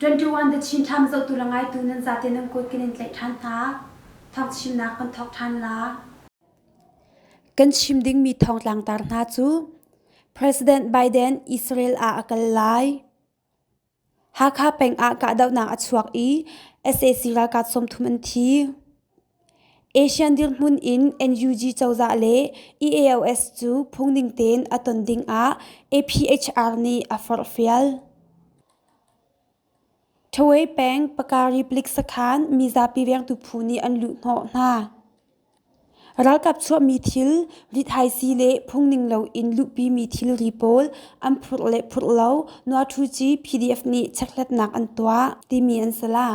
21 the chin tham zo tu la ngai tu nan za te nan kut kin in tlaih than hna thong chim nak kan thok than la Kan chim dingmi thongtlangtar hna cu President Biden Israel ah a kal lai. Hakha peng ah kahdohnak a chuak i sac ralkap sawmthum an thi. Asian dirhmun in NUG cozah le EAOS cu phungning tein a ton ding ah APHR nih a forhfial. Ṭhawei peng Paka Republic sakhan mizapi vengtu phu nih an luhhnawh hna. Ralkap chuahmi thil, lithaisi le phungning loin luhpimi thilri pawl an phurh le phurh lo Nuahthuci PDF nih checkhlatnak an tuah, timi an salah.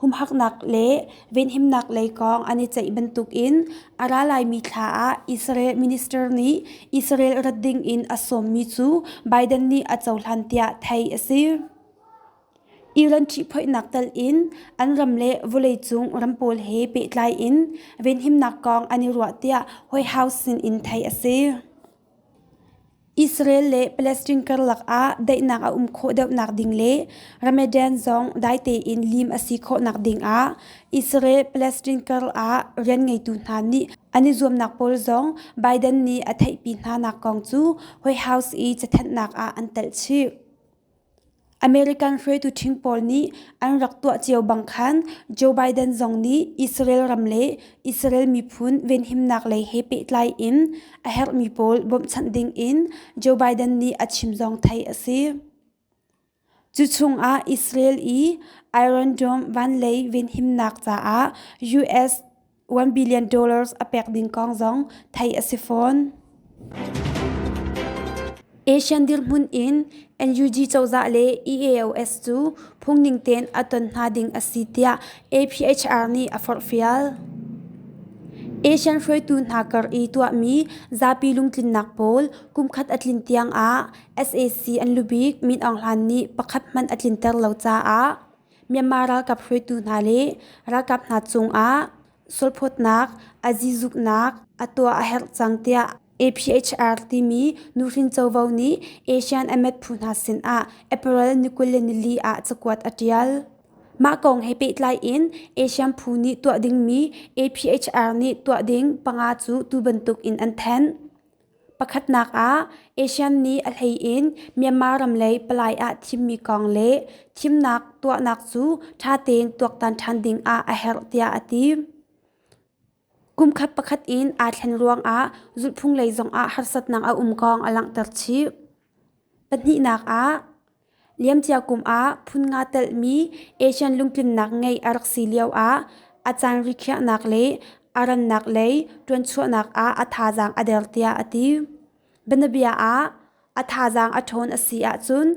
humhaknak le venhimnak lei kong an i ceih bantukin a ra laimi thla ah Israel minister nih Israel rat ding in a sawmmi cu Biden nih a cohlan tiah theih a si. Iran ṭihphoihnak tal in an ram le vawleicung ram pawl he pehtlai in venhimnak kong an i ruah tiah White House sin in theih a si. Israel le Palestine karlak ah daihnak a um khawh deuhnak ding le Ramadan zong dai tein lim a si khawhnak ding ah Israel-Palestine kar ah rian ngeitu hna nih an i zuamnak pawl zong Biden nih a theihpi hnanak kong cu White House i cathenhnak ah an telh chih. American hruaitu ṭhing pawl nih an rak tuah cio bang khan Joe Biden zong nih Israel ram le Israel miphun venhimnak lei he pehtlai in a herhmi pawl bawmhchanh dingin Joe Biden nih a chim zong theih a si. Cuchungah Israel i Iron Dome vanlei venhimnak caah US 1 billion dollars a pek ding kong zong theih a si fawn. Asian dirhmun in NUG cozah le EAOS cu phungning ten a ton hna ding a si tiah APHR nih a forhfial. Asian hruaitu hna kar i tuahmi zapi lungtlinnak pawl kumkhat a tlin tiang ah SAC an lubik Min Aung Hlaing nih pakhat hmanh a tlinter lo caah Myanmar ralkap hruaitu hna le ralkap hna cungah sualphawtnak, a zizuknak a tuah a herh cang tiah APHR timi nuhrin covo nih ASEAN a met phu hna sinah April ni kul le nili ah cakuat a ṭial. Mah kong he pehtlai in ASEAN phu nih tuah dingmi APHR nih tuah ding panga cu tu bantuk in an thanh. Pakhatnak ah, ASEAN nih a hleiin Myanmar ram lei palai ah thimmi kong le thimnak tuahnak cu ṭha tein tuaktan ṭhan ding ah a herh tiah a ti. Kumkhat pakhat in aa thlen ruangah zulhphung lei zongah harsatnak a um kong a langhter chih. Pahnihnak ah, Liamcia kum ah phun nga telhmi Asian lungtlinnak ngeih a rak si lioah a caan rikhiahnak le a rannak lei ṭuanchuahnak ah a thazaang a der tiah a ti. Bianabia ah, a thazaang a ṭhawn a si ahcun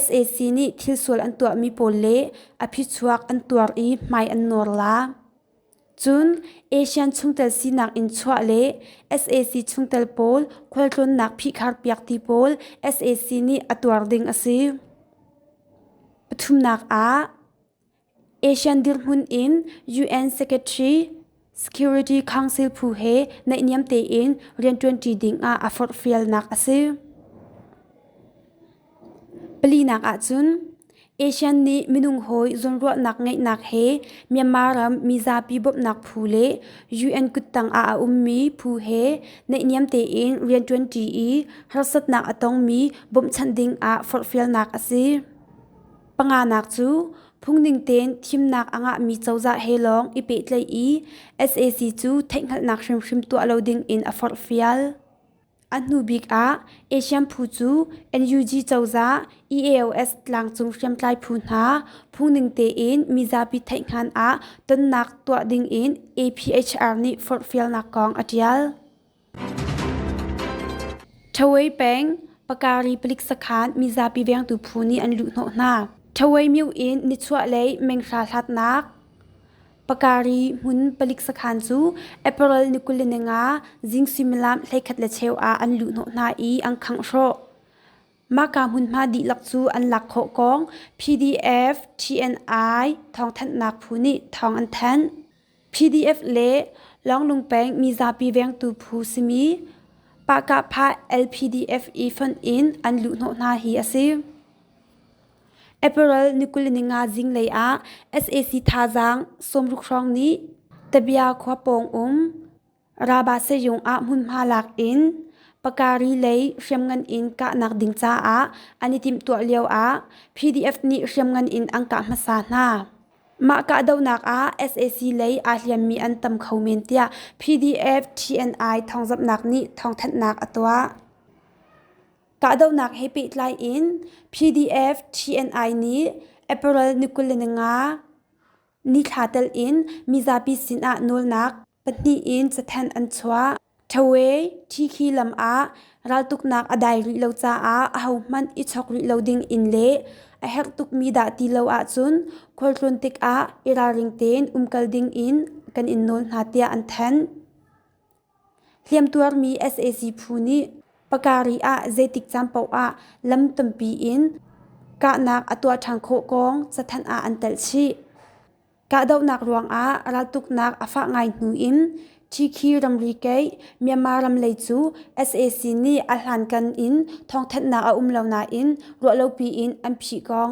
sac nih thilsual an tuahmi pawl le a phichuak an tuar i hmai an nawr la. Cun ASEAN chungtel sinak in chuah le sac chungtel pawl khualtlawnnak phihkharpiak ti pawl sac nih a tuar ding a si. Pathumnak ah, ASEAN dirhmun in UN Secretary Security Council phu he naihniam tein rianṭuanṭi ding ah a forhfialnak a si. Palinak ahcun ASEAN nih minung hawi zawnruahnak ngeihnak he Myanmar ram mi zapi bawmhnak phu le UN kuttang ah a ummi phu he naihniam tein rianṭuanṭi i harsatnak a tongmi bawmhchanh ding ah forhfialnak a si. Panganak cu phungning tein thimnak a ngahmi cozah he lawng i pehtlaih i SAC cu theihhngalhnak hrimhrim tuah lo ding in a forhfial. A hnubik ah Asian phu cu NUG cozah EAOS tlangcung hriamtlai phu hna phungning tein mizapi theihhngan ah tonnak tuah dingin APHR nih forhfialnak kong a ṭial. Ṭhawei peng Pakari palik sakhan mizapi vengtu phu nih an luhhnawh hna. Ṭhawei myu in nichuahlei menghra hlatnak. Pakari hmun palik sakhan cu April ni kul le ni nga zing suimilam hleikhat le cheu ah an luh hnawh hna i an khangh hrawh. Mahka hmunhma dihlak cu an lak khawh kong PDF TNI thawngthanhnak phu nih thawng an thanh. PDF le Longlung peng mizapi vengtu phu simi Pahkapha LPDF i fonh in an luh hnawh hna hi a si. April ni kul ni nga zinglei ah sac thazaang sawmruk hrawng nih Tabia khua pawng um Rabaseyung ah hmunhma lak in Pakari lei hriamngan in kahnak ding caah an i timhtuah lio ah PDF nih hriamngan in an kah hmasa hna. Mah kahdohnak ah sac lei aa hliammi an tam kho men tiah PDF TNI thawngzamhnak nih thawngthanhnak a tuah. Kahdohnak he pehtlai in PDF TNI nih April ni kul le ni nga nithla telh in mizapi sinah nawlnak pahnih in cathanh an chuah. Thawe Tikhi lam ah raltuknak a dai rih lo caah ahohmanh i chawk rih lo ding in le a herh tukmi dah ti lo ahcun khualtlawn tikah i ralring tein um kal ding in kan in nawl hna tiah an thanh. Hliamtuarmi sac phu nih Pakari ah zeitik caan paoh ah lam tampi in kahnak a tuah ṭhan khawh kong cathanh ah an telh chih. Kahdohnak ruangah raltuknak a fah ngai hnu in Chikhi ramri keih Myanmar ram lei cu sac nih a hlankan in thawngthanhnak a um lo nain ruahlopi in an phih kong.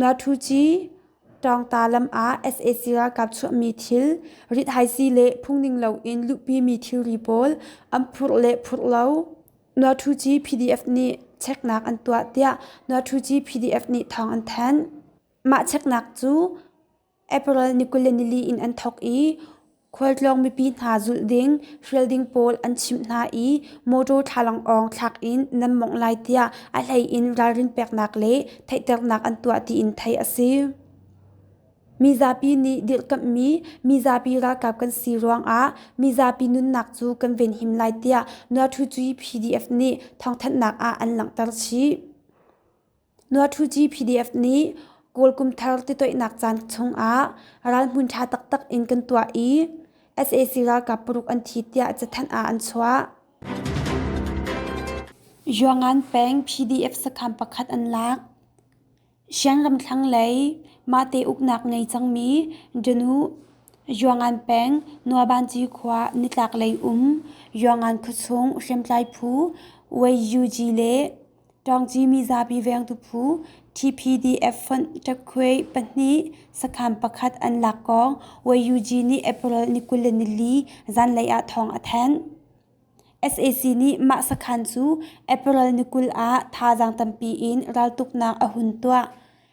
Natuci ṭawngta lam ah sac ralkap chuahmi thil, rithaisii le phungning loin luhpimi thilri pawl an phurh le phurh lo. Natuci PDF nih cheknak an tuah tiah Natuci PDF nih thawng an thanh. Mah cheknak cu April ni kul le nili in an thawk i khualtlawng mipi hna zulh ding hrial ding pawl an chimh hna i motor thlalangawng thlak in nan mawngh lai tiah a hleiin ralrin peknak le theihternak an tuah tiin theih a si. Mizapi nih dirhkamhmi mizapi ralkap kan si ruangah mizapi nunnak cu kan venhim lai tiah Nuathucuyi PDF nih thawngthanhnak ah an langhter chih. Nuathuci PDF nih Kawl kumthar titoihnak caan chungah ral hmun ṭha taktak in kan tuah i sac ralkap paruk an thi tiah cathanh ah an chuah. Yuangan peng PDF sakham pakhat an lak. Shan ramthlang lei mahte uknak ngei cangmi Janu Yuangan peng Nuabanci khua nitlaklei um Yuangan khuachung hriamtlai phu Wei Yuji le ṭawngci mizapi vengtu phu TPDF fonh ṭakkhuai pahnih sakhan pakhat an lak kong YUG nih April ni kul le nili zanlei ah thawng a thanh. SAC nih mah sakhan cu April ni kul ah thazaang tampi in raltuknak a hun tuah.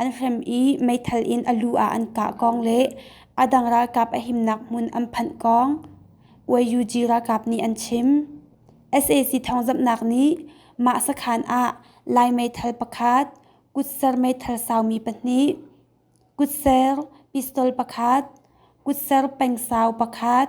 an hrem i meithal in a lu ah an kah kong le a dang ralkap a himnak hmun an phanh kong YUG ralkap nih an chim. sac thawngzamhnak nih mah sakhan ah lai meithal pakhat kutser meithal saumi pahnih kutser pistol pakhat kutser pengsau pakhat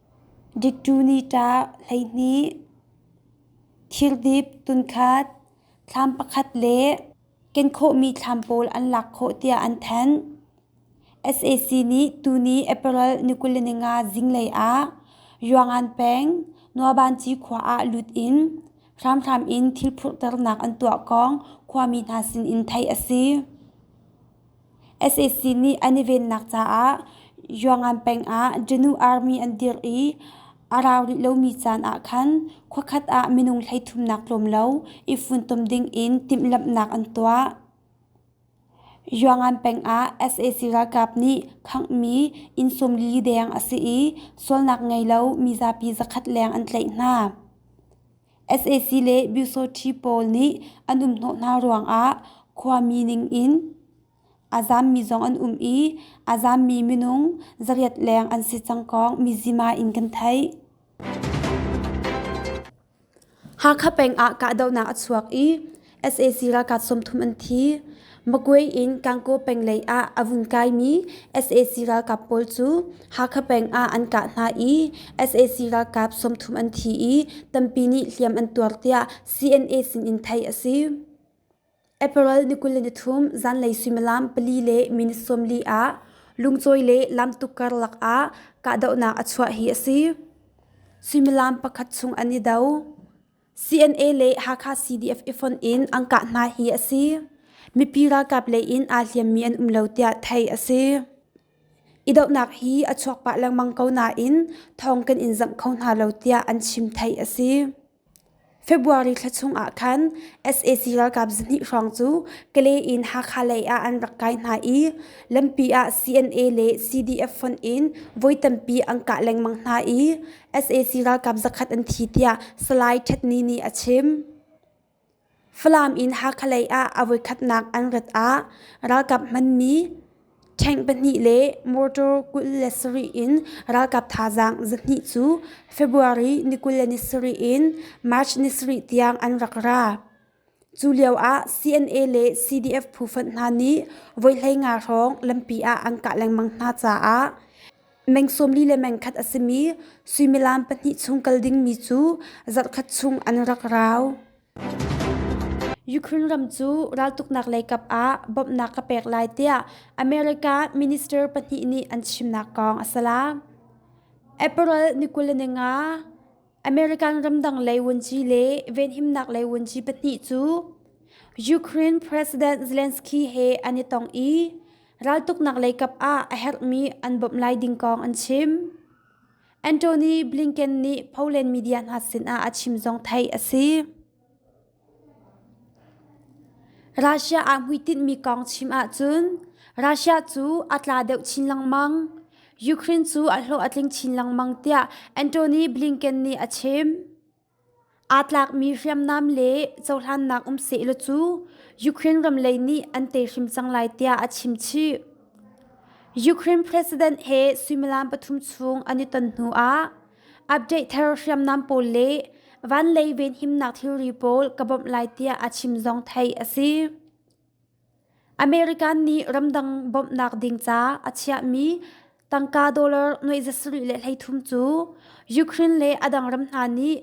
Diktunita hleihnih, thildip tunkhat, thlam pakhat le kenkhawhmi thlam pawl an lak khawh tiah an thanh. SAC nih tuni April ni kul le ni nga zinglei ah Yuangan peng Nuabanci khua ah lut in hramhram in thil phurhternak an tuah kong khuami hna sin in theih a si. sac nih an i vennak caah yuangan peng ah janu army an dirh i a rau rih lomi caan ah khan khua khat ah minung hleithumnak tlawm lo i funtom ding in timhlamhnak an tuah yuangan peng ah sac ralkap nih khanghmi inn sawmli deng a si i sualnak ngei lo mizapi zakhat leng an tlaih hna sac le myosothi pawl nih an um hnawh hna ruangah khuami ningin a zaammi zong an um i a zaammi minung zariat leng an si cangkong mizima in kan theih. Hakha peng ah kahdohnak a chuak i sac ralkap sawmthum an thi magway in kangkaw peng lei ah a vun kaimi sac ralkap pawl cu hakha peng ah an kah hna i sac ralkap sawmthum an thi i tampi nih hliam an tuar tiah cna sinin theih a si april ni kul le nithum zanlei suimilam pali le minute sawmli ah lungcawi le lamtuk karlak ah kahdohnak a chuah hi a si suimilam pakhat chung an i do CNA le Hakha CDF ifonh in an kah hna hi a si. Mipi ralkap lei in aa hliammi an um lo tiah theih a si. Idohnak hi a chuak pah lengmang ko nain thawng kan in zangh kho hna lo tiah an chim theih a si. February thla chung ah khan SAC ralkap zahnih hrawng cu Kale in Hakha lei ah an rak kai hna i lampi ah CNA le CDF fonh in voi tampi an kah lengmang hna i sac ralkap zakhat an thi tiah Salai Htet Ni nih a chim. Falam in Hakha lei ah a voikhatnak an rat ah ralkap hmanmi tank pahnih le motor kul le sarih in ralkap thazaang zahnih cu February ni kul le ni sarih in March ni sarih tiang an rak ra. Cu lioah CNA le CDF phufonh hna nih voihleinga hrawng lampi ah an kah lengmang hna caah meng sawmli le meng khat a simi suimilam pahnih chung kal dingmi cu zarhkhat chung an rak rau. Ukraine ram cu raltuknak lei kap ah bawmhnak ka pek lai tiah America minister pahnih nih an chimnak kong a si la. April ni kul le ni nga American ramdang lei wunci le venhimnak lei wunci pahnih cu Ukraine President Zelensky he an i tong i raltuknak lei kap ah a herhmi an bawmh lai ding kong an chim. Anthony Blinken nih Poland media hna sinah a chim zong theih a si. Russia ah hmuitinhmi kong chim ahcun Russia cu a tla deuh chin lengmang. Ukraine cu a hlawh a tling chin lengmang tiah Antony Blinken nih a chim. Aa tlakmi hriamnam le cohlannak um sehlaw cu Ukraine ram lei nih an tei hrim cang lai tiah a chim chih. Ukraine president he suimilam pathum chung an i ton hnu ah Update thar hriamnam pawl le van lei venhimnak thilri pawl ka bawmh lai tiah a chim zong theih a si. American nih ramdang bawmhnak ding ca a chiahmi tangka dollar nuaizasarih le hleithum cu Ukraine le a dang ram hna nih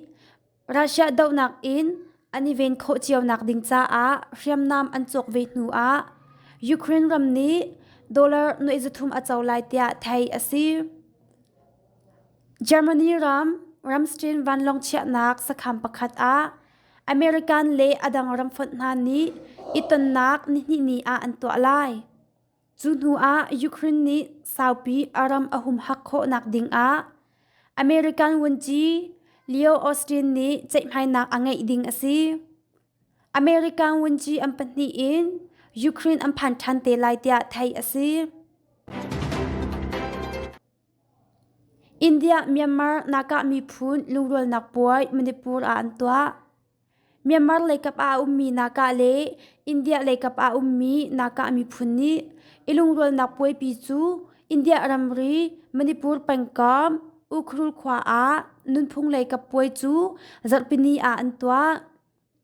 Russia dohnak in an i ven khawh cionak ding caah hriamnam an cawk ve hnu ah Ukraine ram nih dollar nuihzathum a co lai tiah theih a si. Germany ram ramstin vanlawng chiahnak sakham pakhat ah American le a dang ram fonh hna nih i tonnak nihnih ni ah an tuah lai. Cu hnuah Ukraine nih saupi a ram a humhak khawhnak dingah American Wunci Leo Austin nih ceihmainak a ngeih ding a si. American Wunci an pahnih in Ukraine an phan ṭhan te lai tiah theih a si. India Myanmar Naka miphun lungrualnak puai Manipur ah an tuah. Myanmar leikap ah a ummi Naka le India leikap ah a ummi Naka miphun nih i lungrualnak puaipi cu India ramri Manipur pengkam Ukhrul khua ah nunphung leikap puai cu zarhpini ah an tuah.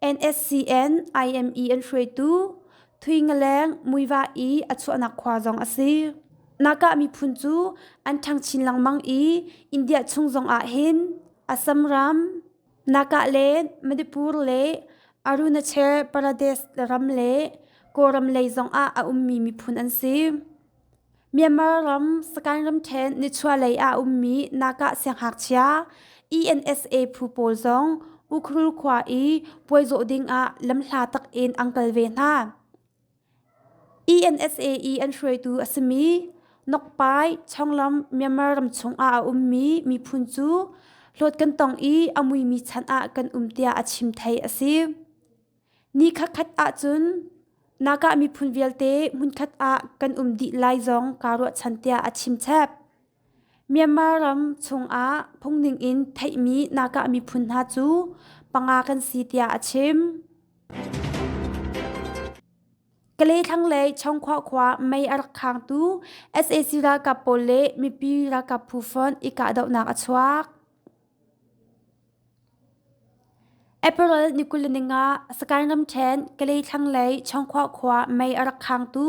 NSCN IME an hruaitu Thuingaleng Muiva i a chuahnak khua zong a si. Naka miphun cu an ṭhangchin lengmang i India chung zong ah hin Assam ram, Naka le Manipur le Arunachal Pradesh ram le Kawlam lei zong ah a ummi miphun an si. Myanmar ram Sagaing ramṭhen nichuahlei ah a ummi Naga sianghngakchia ENSA phu pawl zong Ukhru khua i puaizawh ding ah lamhla tak in an kal ve hna. ENSA i an hruaitu a simi Nokpai chonglam Myanmar ram chungah a ummi miphun cu hlawt kan tong i a muimi chan ah kan um tiah a chim thei a si. Ni khatkhat ahcun nakah miphun vialte hmunkhat ah kan um dih lai zong kaa ruahchan tiah a chimchep. Myanmar ram chungah phungning in theihmi nakah miphun hna cu panga kan si tiah a chim. Kalay thlanglei Chongkhwa khua mei a rak khangtu sac ralkap pawl le mipi ralkap phu font i kahdohnak a chuak. April ni kul le ningah Sakain ramṭhen Kalay thlanglei Chawngkhua khua mei a rak khangtu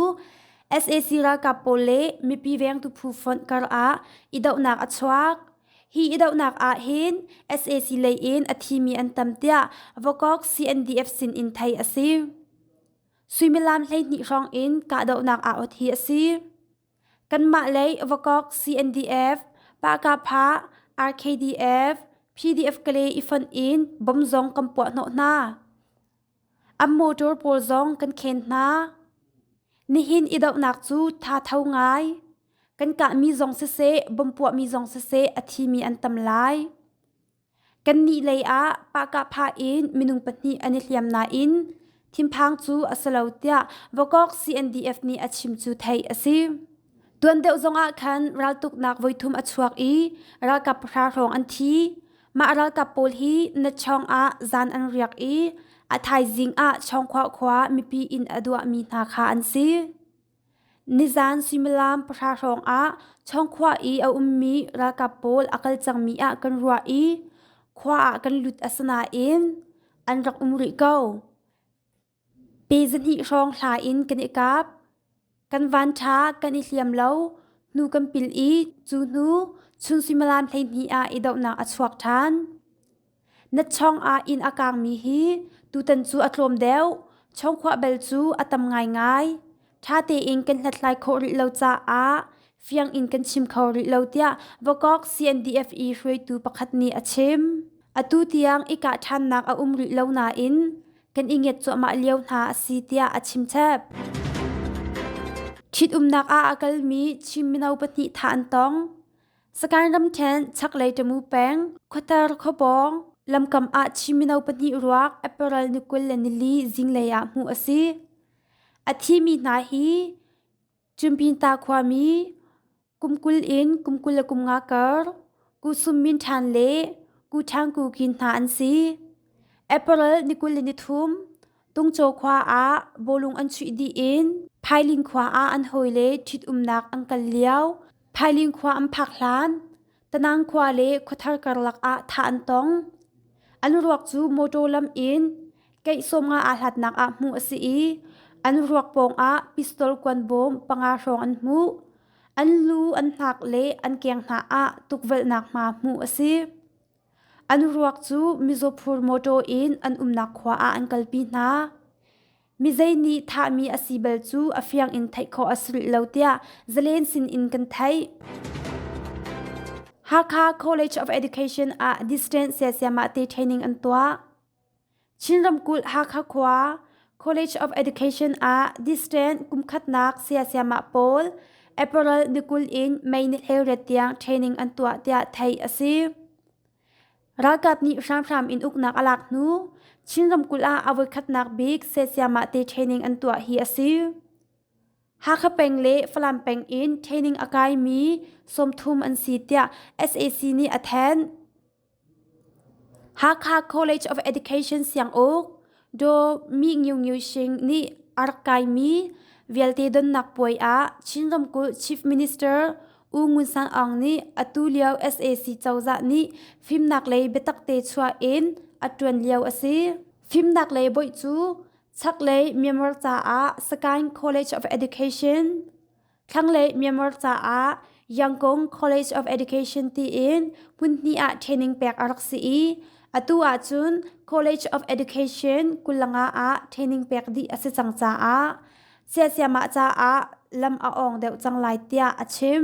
sac ralkap pawl le mipi vengtu phu fonh karah idohnak a chuak. Hi idohnak ah hin sac lei in a thimi an tam tiah Vokok CNDF sin in theih a si. Suimilam hleihnih hrawng in kahdohnak aut hi a si. Kanmah lei Vakok CNDF, Pahkapha, RKDF, PDF Kale i fonh in bom zong kan puah hnawh hna. An motor pawl zong kan khen hna. Nihin i dohnak cu tha tho ngai. Kan kahmi zong siseh, bom puahmi zong siseh a thimi an tam lai. Kannih lei ah pahkah phah in minung pahnih an i hliam nain thinphang cu a si lo tiah Vakok CNDF nih a chim cu theih a si. Tuan deuh zongah khan raltuknak voithum a chuak i ralkap pahra hrawng an thi. Mah ralkap pawl hi natchawng ah zan an riak i a thaizing ah Chawngkhua khua mipi inn a duahmi hna kha an si. Nizaan suimilam pahra hrawngah Chawngkhua i a ummi ralkap pawl a kal cangmi ah kan ruah i khua ah kan lut a si nain an rak um rih ko. Pe zahnih hrawng hla in kan i kap. Kan van ṭha kan i hliam lo. Hnu kan pil i cu hnu chun suimilam hleihnih ah i dohnak a chuak ṭhan. Na chong ah inn a kangmi hi tutan cu a tlawm deuh. Chongkhua bel cu a tam ngaingai. Ṭha tein kan hlathlai khawh rih lo caah fiang in kan chim kho rih lo tiah Vakok CNDF-E hruaitu pakhat nih a chim. Atu tiang i kah ṭhannak a um rih lo nain kan i ngiat cuahmah lio hna a si tiah a chimchep. Ṭhitumnak ah a kalmi Chin mino pahnih thah an tong. Sakan ramkhen chaklei tamu peng khuatar khawpawng lamkam ah Chin mino pahnih ruak April ni kul le nili zinglei ah hmuh a si. A thimi hna hi Chumpinta khuami kumkul in kumkul le kumnga kar Kusum Min Ṭhan le Ku Ṭhang Ku Kin hna an si. April ni kul le nithum Tungcaw khua ah bawlung an chuih dih in Phailing khua ah an hawi le ṭhitumnak an kal lio. Phailing khua an phak hlan Tanang khua le khuathar karlak ah thah an tong. An ruak cu motor lam in keih sawmnga aa hlatnak ah hmuh a si i an ruak pawngah pistol kuan bawm panga hrawng an hmuh. An lu, an hnak le an keng hna ah tukvelhnak hma hmuh a si. An ruak cu mizaw mawṭaw in an umnak khua ah an kalpi hna. Mizei nih thahmi a si bal cu a fiang in theih khawh a si rih lo tiah zalen sin in kan theih. Hakha College of Education ah distance siasiamah te training an tuah. Chin ramkulh Hakha khua College of Education ah distant kumkhatnak sayasiamah pawl April ni kul in May ni hleiriat tiang training an tuah tiah theih a si. Ralkap nih hramhram in uknak a lak hnu Chin ramkulh ah a voikhatnak bik sayasiamah te training an tuah hi a si. Hakha peng le Falam peng in training a kaimi sawmthum an si tiah SAC nih a thanh. Hakha College of Education Sianguk Daw Mi Ngiu Ngiu Shing nih a rak kaimi vialte donnak puai ah Chin ramkulh Chief Minister U Ngun San Aung nih atu lio sac cozah nih fimnak lei biatak te chuah in a ṭuan lio a si. Fimnak lei bawi cu chaklei Myanmar caah Sakaing College of Education Thlanglei Myanmar caah Yangon College of Education tiin hmun hnih ah training pek a rak si i atu ahcun College of Education Kulanga ah training pek dih a si cang caah siasiamah caah lam a awng deuh cang lai tiah a chim.